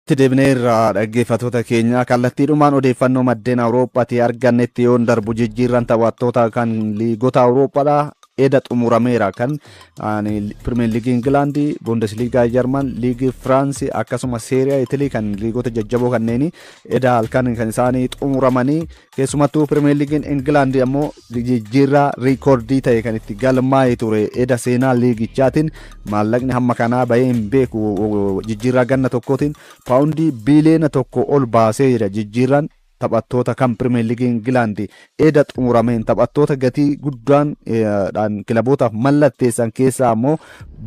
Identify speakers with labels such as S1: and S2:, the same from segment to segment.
S1: Itti deebineerra dhaggeeffatoota keenya kallattiidhumaan odeeffannoo maddeen Awurooppaatii argannetti yoon darbu jijjiirran taphattoota kan liigota Awurooppaadha eda xumurameera kan Pirimeer Liigii Ingilaandi, Bundesliigaa Jarman, Liigii Firaansi akkasuma Seeriyaa Itilii kan liigota jajjaboo kanneenii eda halkan kan isaanii xumuramanii Keessumattuu Pirimeer Liigiin Ingilaandi ammoo jijjiirraa riikoordii ta'e kan itti galmaa'e ture. Eda seenaa liigichaatiin maallaqni hamma kanaa bahee hin beeku. Jijjiirraa ganna tokkootiin paawundii biiliyoona tokko ol baasee jira. Jijjiirraan taphattoota kan Pirimeer Liigii Ingilaandi eda xumurameen taphattoota gatii guddaan kilabootaaf mallatteessan keessaa ammoo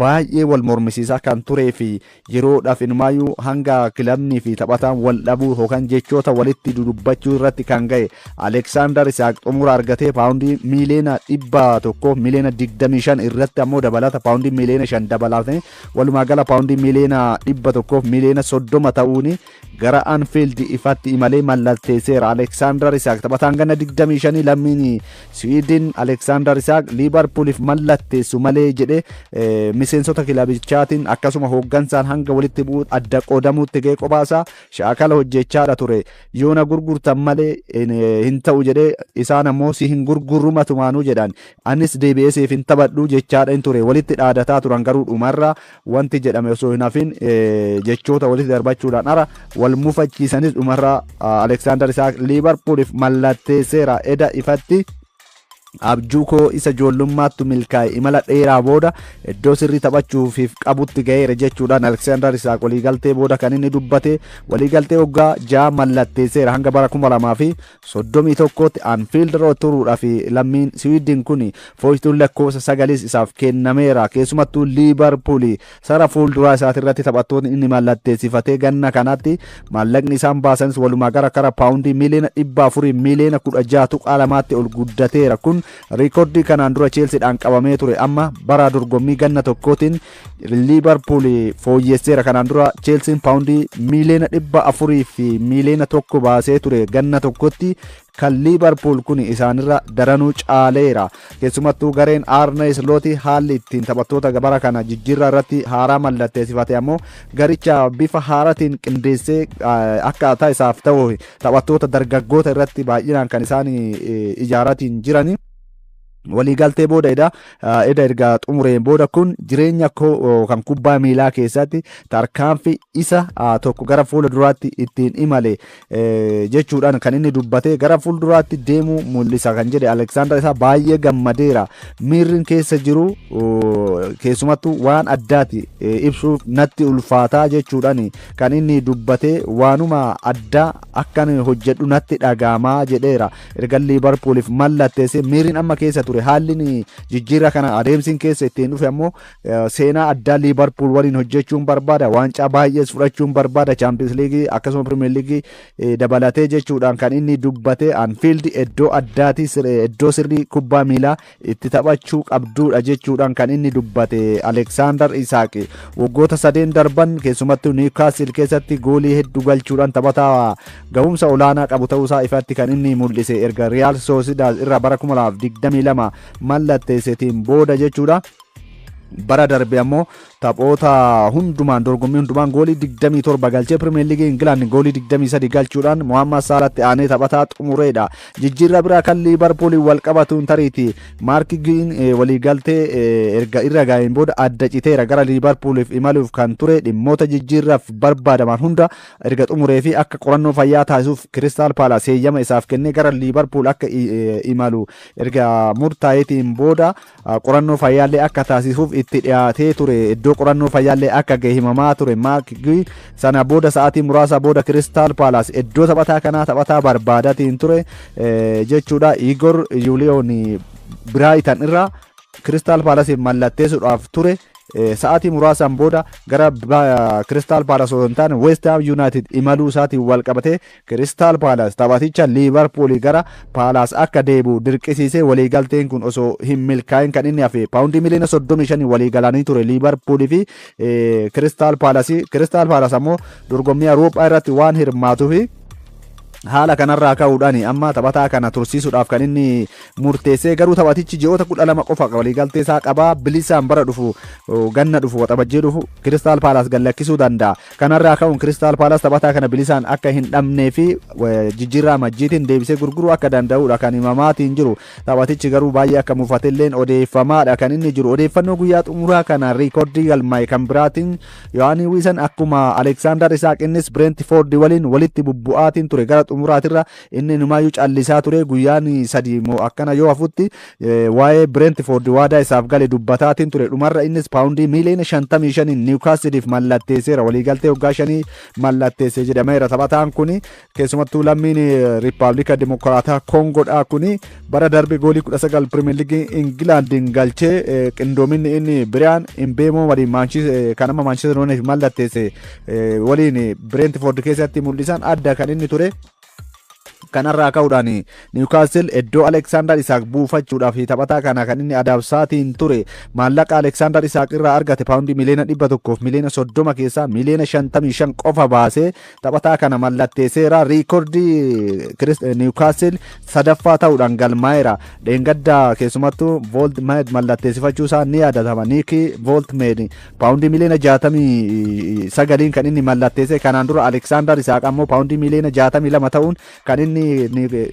S1: baay'ee wal mormisiisaa kan turee fi Yeroodhaaf inumaayuu hanga kilabnii fi taphataan wal dhabuu yookaan jechoota walitti dudubbachuu irratti kan ga'e Aleeksaandar Isaaq xumura argatee paawundii miiliyoona 100 miiliyoona 25 irratti ammoo dabalata paawundii miiliyoona 5 dabalatee walumaa gala paawundii miiliyoona 100 miiliyoona 30 ta'uun Gara Anfield ifatti imalee mallatteesseera. Aleksaandar Isaak taphataan ganna 25 lammiin Siwiidin Aleksaandar Isaak Liibarpuuliif mallatteessu malee jedhe miseensota kilabichaatiin akkasuma hooggansaan hanga walitti bu'uu adda qoodamuutti ga'ee qophaasa shaakala hojjechaadha ture. Yoona gurgurtan malee hin ta'u jedhee isaan ammoo si hin gurgurru matumaanuu jedhan. Anis deebi'ee siif hin taphadhu jechaadha hin ture. Walitti dhaadataa turan garuu dhumarra Wanti jedhame osoo hin hafin jechoota walitti darbachuudhaan ara wal mufachiisanis dhumarra Aleksaandar Isaak Liivarpuuliif mallatteesseera. Eda ifatti abjuu koo isa ijoollummaattu milkaa'e imala dheeraa booda iddoo sirrii taphachuufiif qabutti ga'eera jechuudhaan Aleksaandar Isaak waliigaltee booda kan inni dubbate waliigaltee waggaa ja'a mallatteesseera hanga bara 2000 fi 31 tti Anfiild Rood turuudhaaf lammiin Siwiidin kun fooytuun lakkoofsa sagaliis isaaf kennameera. Keessumattuu Liivarpuul sara fuulduraa isaatirratti taphattootni inni mallatteessifatee ganna kanatti maallaqni isaan baasanis walumaa gara kara paawundii miiliyoona 400 miiliyoona 16.2tti ol guddateera. Kun riikordii kanaan dura Cheelsiidhaan qabamee ture amma bara dorgommii ganna tokkootiin Liivarpuul fooyyesseera kanaan dura Cheelsiin paawundii miiliyoona dhibba afurii fi miiliyoona tokko baasee ture ganna tokkotti kan Liivarpuul kun isaanirra daranuu caaleera. Keessumattuu gareen Arne Slooti haalli ittiin taphattoota gabara kana jijjiirraa irratti haaraa mallatteessifate ammoo garicha bifa haaratiin qindeessee akkaataa isaaf ta'u taphattoota dargaggoota irratti baay'inaan kan isaan ijaaratiin jirani. waliigaltee booda eda eda erga xumureen booda kun jireenya koo kan kubbaa miilaa keessatti tarkaanfi isa tokko gara fuula duraatti ittiin imale jechuudhaan kan inni dubbate gara fuula duraatti deemuu mul'isa kan jedhe Aleksaandar isaa baay'ee gammadeera miirri keessa jiru keessumattuu waan addaati ibsuu natti ulfaataa jechuudhaan kan inni dubbate waanuma addaa akkan hojjedhu natti dhagaamaa jedheera Ergan Liivarpuuliif mallatteessee miirri amma keessa ture haalli jijjiirraa kana adeemsiin keessa ittiin dhufe ammoo seenaa addaa Liivarpuul waliin hojjechuun barbaada. Waancaa baay'ees fudhachuun barbaada. Chaampiyoons Liigii akkasuma Pirimeer Liigii dabalatee jechuudhaan kan inni dubbate Anfiildi iddoo addaati iddoo sirrii kubbaa miilaa itti taphachuu qabduudha jechuudhaan kan inni dubbate Aleksaandar Isaaq waggoota sadeen darban keessumattuu Niwkaasil keessatti goolii hedduu galchuudhaan taphataa gahumsa olaanaa qabu ta'uusaa ifatti kan inni mul'ise erga Riyaal Soosidaad irraa bara 2022 mallatteesseetiin booda jechuudha. Bara darbe ammoo taphoota hundumaan dorgommii hundumaan goolii 27 galchee Pirimeer Liigii Ingilaand goolii 23 galchuudhaan Mohaammed Saalaatti aanee taphataa xumureedha. Jijjiirraa biraa kan Liivarpuuliin wal qabatuun tariiti Maark Giin waliigaltee erga irra ga'een booda adda citeera gara Liivarpuuliif imaluuf kan ture dhimmoota jijjiirraaf barbaadaman hunda erga xumuree fi akka qorannoo fayyaa taasisuuf Kiristaal Paalaas heeyyama isaaf kennee gara Liivarpuul akka imalu erga murtaa'eetiin booda Qorannoo fayyaallee akka taasisuuf itti dhiyaatee ture. Iddoo qorannoo fayyaallee akka gahe himamaa ture. Maark Gii sana booda sa'aatii muraasa booda Kiristaal Paalaas iddoo taphataa kanaa taphataa barbaadatiin ture jechuudha. Igor Yuuliyoon Biraayitan irraa Kiristaal Paalasiif mallatteessuudhaaf ture. Sa'aatii muraasaan booda gara Kiristaal Paalas osoo hin taane Weest Haam Yuunaayitid imaluu isaatiin wal qabatee Kiristaal Paalaas taphaticha Liivarpuulii gara Paalaas akka deebi'u dirqisiisee waliigalteen kun osoo hin milkaa'in kan inni hafe paawundii miliyoona 35 waliigalanii ture Liivarpuulii fi Kiristaal Paalasi. Kiristaal Paalaas ammoo dorgommii Awurooppaa irratti waan hirmaatuufi haala kanarraa ka'uudhaan amma taphataa kana tursiisuudhaaf kan inni murteessee garuu taphatichi ji'oota kudha lama qofa waliigaltee isaa qabaa bilisaan bara dhufu ganna dhufu waxabajjii dhufu kiristaal paalaas gallakkisuu danda'a. Kanarraa ka'uun Kiristaal Paalaas taphataa kana bilisaan akka hin dhabnee fi jijjiirraa majjiitiin deebisee gurguruu akka danda'udha kan himamaatiin jiru. Taphatichi garuu baay'ee akka mufatelleen odeeffamaadha kan inni jiru. Odeeffannoo guyyaa xumuraa kana riikordii galmaa'e kan biraatiin Yohaanii Wiisan akkuma Aleeksaandar Isaaq innis Bireentifoordi waliin walitti bubbu'aatiin ture gara xumuraatirra Inni inumaayyuu callisaa ture. Guyyaan sadii moo akkana yoo hafutti waa'ee Bireentifoord waadaa isaaf gale dubbataatiin ture. Dhumarra innis paawundii miiliyoona 55n Niwukaasiliif mallatteesseera. Waliigaltee waggaa shanii mallatteesse jedhameera. Taphataan kun keessumattuu lammiin Riippaabilika Dimokiraataa Koongoodhaa kun bara darbe goolii 19 Pirimeer Liigii Ingilaandiin galchee qindoominni inni Biriyaan Imbeemoo waliin kan amma Maanchister Yuunaayitid mallatteesse waliin Bireentifoord keessatti mul'isan adda kan inni ture. Kanarraa ka'uudhaan Niwukaastil iddoo Aleksaandar Isaaq buufachuudhaaf taphataa kana kan inni adabsaatiin ture maallaqa Aleksaandar Isaaq irraa argate paawundii miliyoona 100 fi miliyoona 30 keessaa miliyoona 55 qofa baasee taphataa kana mallatteesseera. Riikordii Niwukaastil sadaffaa ta'uudhaan galmaa'eera. Dheengaddaa keessumattuu Vooltmeed mallatteessifachuu isaa ni yaadatama. Niikii Vooltmeed Paawundii miliyoona 69n kan inni mallatteesse kanaan dura Aleksaandar Isaaq ammoo paawundii miliyoona 62 ta'uun kan inni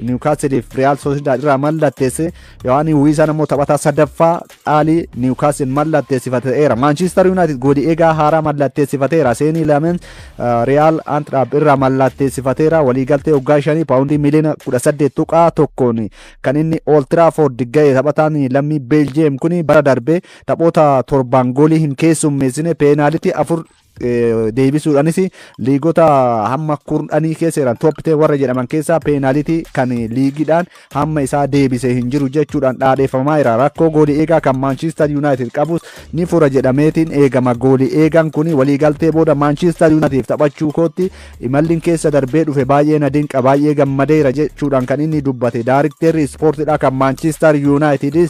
S1: Niwukaasiliif Riyaal Soosidaad irraa mallatteesse Yohaanii Wiisaan ammoo taphataa sadaffaa dhaalii Niwukaasil mallatteessifateera. Maanchiistar Yuunaayitid gooli eegaa haaraa mallatteessifateera. Seenii Lameen Riyaal Antiraab irraa mallatteessifateera. Waliigaltee waggaa shanii paawundii miliyoona 18 tuqaa tokkoon kan inni Ooltiraafoord ga'e taphataan lammii Beeljiyeem kun bara darbe Taphoota torbaan goolii hin keessummeessine peenaalitii afur deebisuudhaanis liigota hamma kurnanii keessa jiran tooppitee warra jedhaman keessaa peenaalitii kan liigiidhaan hamma isaa deebisee hin jiru jechuudhaan dhaadheeffamaa jira. Rakkoo goolii eegaa kan Maanchistar Yuunaayitid qabus ni fura jedhameetiin eegama. Goolii eegaan kun waliigaltee booda Maanchistar Yuunaayitiif taphachuu kootti imalliin keessa darbee dhufe baay'ee na dinqa baay'ee gammadeera jechuudhaan kan inni dubbate daarikteerri ispoortiidhaa kan Maanchistar Yuunaayitidis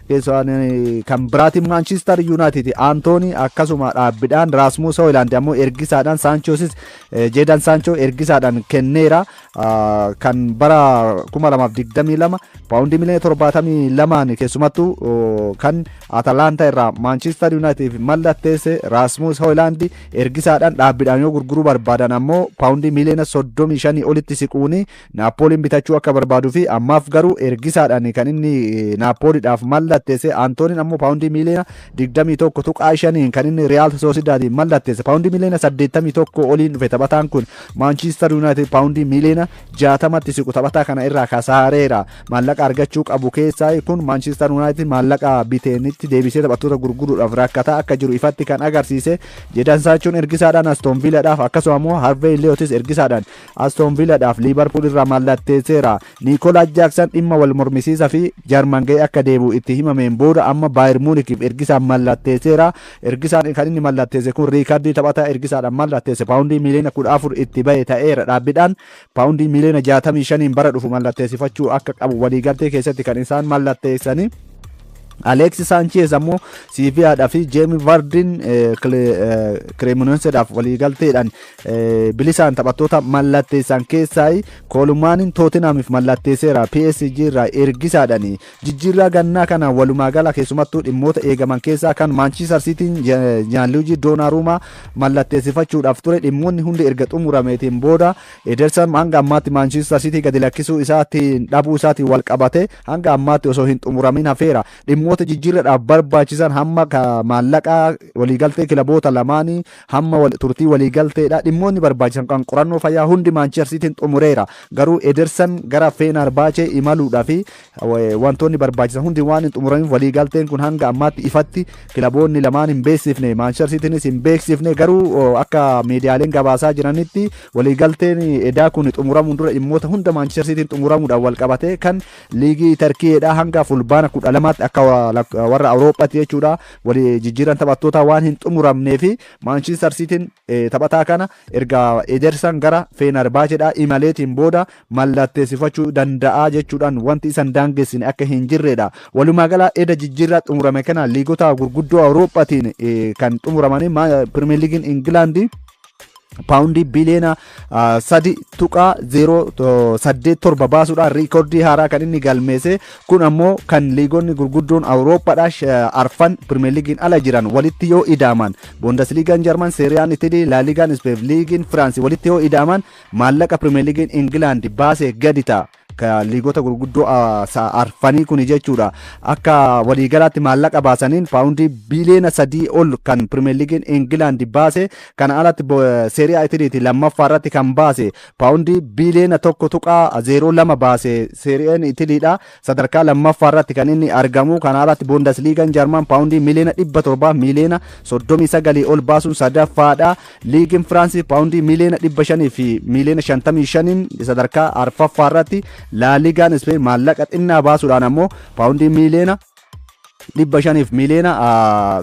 S1: Keessumaan kan biraatiin Maanchistar Yuunaayitid Antoonii akkasuma dhaabbidhaan Raasmuus Hooyilaand ammoo ergisaadhaan Saanchoosis Jeedan Saanchoo ergisaadhaan kenneera. Kan bara 2022 paawundii miliyoona 72 keessumattuu kan Atalaantaa irraa Maanchistar Yuunaayitid mallatteesse Raasmuus Hooyilaand ergisaadhaan dhaabbidhaan yoo gurguruu barbaadan ammoo paawundii miliyoona 35 olitti siquun Naappooliin bitachuu akka barbaaduu fi ammaaf garuu ergisaadhaan kan inni Naappooliidhaaf mallatteesse Antooniin ammoo paawundii miiliyoona 21.5 kan inni Riyaal Soosidaadiin mallatteesse paawundii miiliyoona 81 oliin dhufe taphataan kun Maanchiistar Yuunaayitid paawundii miiliyoona 60tti siqu taphataa kana irraa kasaareera maallaqa argachuu qabu keessaa kun Maanchiistar Yuunaayitid maallaqa biteenitti deebisee taphattoota gurguruudhaaf rakkataa akka jiru ifatti kan agarsiise jedhan saachuun ergisaadhaan Astoon Viilaadhaaf akkasuma immoo Harvey Leotis ergisaadhaan Aston Viiladhaaf Liivarpuul irraa mallatteesseera. Niikoolaas Jaaksan dhimma wal mormisiisa fi Jarman ga'ee akka deebi'u itti himameen booda amma Baayir Muunikiif ergisaa mallatteesseera. Ergisaan kan inni mallatteesse kun riikardii taphataa ergisaadhaan mallatteesse paawundii miiliyoona 14 itti ba'e ta'eera. Dhaabbidhaan paawundii miiliyoona 65n bara dhufu mallatteessifachuu akka qabu waliigaltee keessatti kan isaan mallatteessanii. Aleeksi Saancheez ammoo Siiviyaadhaa fi Jeemi Vardiin Kireemoneenseedhaaf waliigalteedhaan bilisaan taphattoota mallatteessan keessaa Koolumaaniin Tootinhaamiif mallatteesseera. PSG irraa ergisaadhaan jijjiirraa gannaa kana walumaa gala keessumattuu dhimmoota eegaman keessaa kan Maanchiistar Siitiin Jaanluujii Doonaaruumaa mallatteessifachuudhaaf ture dhimmoonni hundi erga xumurameetiin booda Edersan hanga ammaatti Maanchiistar Siitii gadi lakkisuu isaatiin dhabuu isaatiin wal qabate hanga ammaatti osoo hin xumuramin hafeera. Dhimmoota jijjiirradhaaf barbaachisan hamma maallaqaa waliigaltee kilaboota lamaanii Hamma wal turtii walii galteedha. Dhimmootni barbaachisan kan qorannoo fayyaa hundi Maanchister Siitiin xumureera. Garuu Edersan gara Feenarbaachee imaluudhaaf wantoonni barbaachisan hundi waan hin xumuramiif walii galteen kun hanga ammaatti ifatti kilaboonni lamaan hin beeksifne. Maanchister Siitiinis hin beeksifne. Garuu akka miidiyaaleen gabaasaa jiranitti walii galteen edaa kun xumuramuun dura dhimmoota hunda Maanchister Siitiin xumuramuudhaan wal qabatee kan liigii Tarkiyeedha hanga fulbaana kudha lamaatti akka warra Awurooppaatti jechuudha. Wal jijjiirraan taphattootaa waan hin xumuramnee fi Maanchistar Siitiin taphataa kana erga Edersan gara Feenarbaacheedhaa imaleetiin booda mallatteessifachuu danda'a jechuudhaan wanti isan daangessine akka hin jirredha. Walumaa gala eda jijjiirraa xumurame kana liigota gurguddoo Awurooppaatiin kan xumuramanii Pirimeer Liigiin Ingilaandii paawundii biliyoona sadi tuqaa zeeroo saddeet torba baasuudhaan riikordii haaraa kan inni galmeesse kun ammoo kan liigonni gurguddoon awurooppaadhaa arfan pirimeeligiin ala jiran walitti yoo idaaman boondasliigaan jarman seeriyaan itilii laaliigaan ispeef liigiin firaansi walitti yoo idaaman maallaqa pirimeeligiin ingilaandi baasee gadi ta'a. Ka liigota gurguddoo a, sa, arfanii kuni jechuudha. Akka waliigalaatti maallaqa baasaniin paawundii biiliyoona sadii ol kan Pirimeer Liigiin Ingilaandi baase. Kana alatti bo- Seeriyaa Itiliiti lammaffaa irratti kan baase paawundii biiliyoona tokko tuqaa zeeroo lama baase Seeriyaan Itiliidha. Sadarkaa lammaffaa irratti kan inni argamu. Kana alatti Boondasliigaan Jarman paawundii miiliyoona dhibba torbaa miiliyoona soddomii sagalii ol baasuun sadaffaadha. Liigiin Firaansi paawundii miiliyoona 500 fi miiliyoona 55n sadarkaa arfaffaa irratti Laaliigaan Ispeen maallaqa xinnaa baasuudhaan ammoo paawundii miiliyoona 500 fi miiliyoona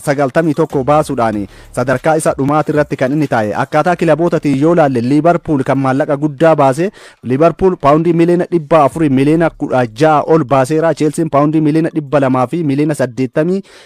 S1: 91 baasuudhaan sadarkaa isa dhumaati irratti kan inni taa'e. Akkaataa kilabootatiin yoo laalle Liibarpuul kan maallaqa guddaa baase Liibarpuul paawundii miiliyoona 400 miiliyoona 16 ol baaseera. Cheelsiin paawundii miiliyoona 200 fi miiliyoona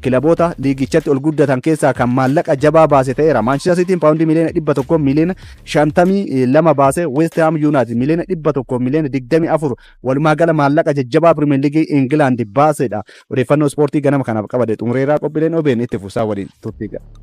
S1: Kilaboota liigichatti ol guddatan keessaa kan maallaqa jabaa baase ta'eera. Maanchister Siitiin paawundii miliyoona 100 miliyoona 52 baase, West Haam Yuunaayitid miliyoona 100 miliyoona 24 walumaa gala maallaqa jajjabaa Pirimeer Liigii Ingilaandi baasedha. Odeeffannoo ispoortii ganama kanaaf qabade xumureeraa qophiileen OBN itti fuusaa waliin turtii gaarii.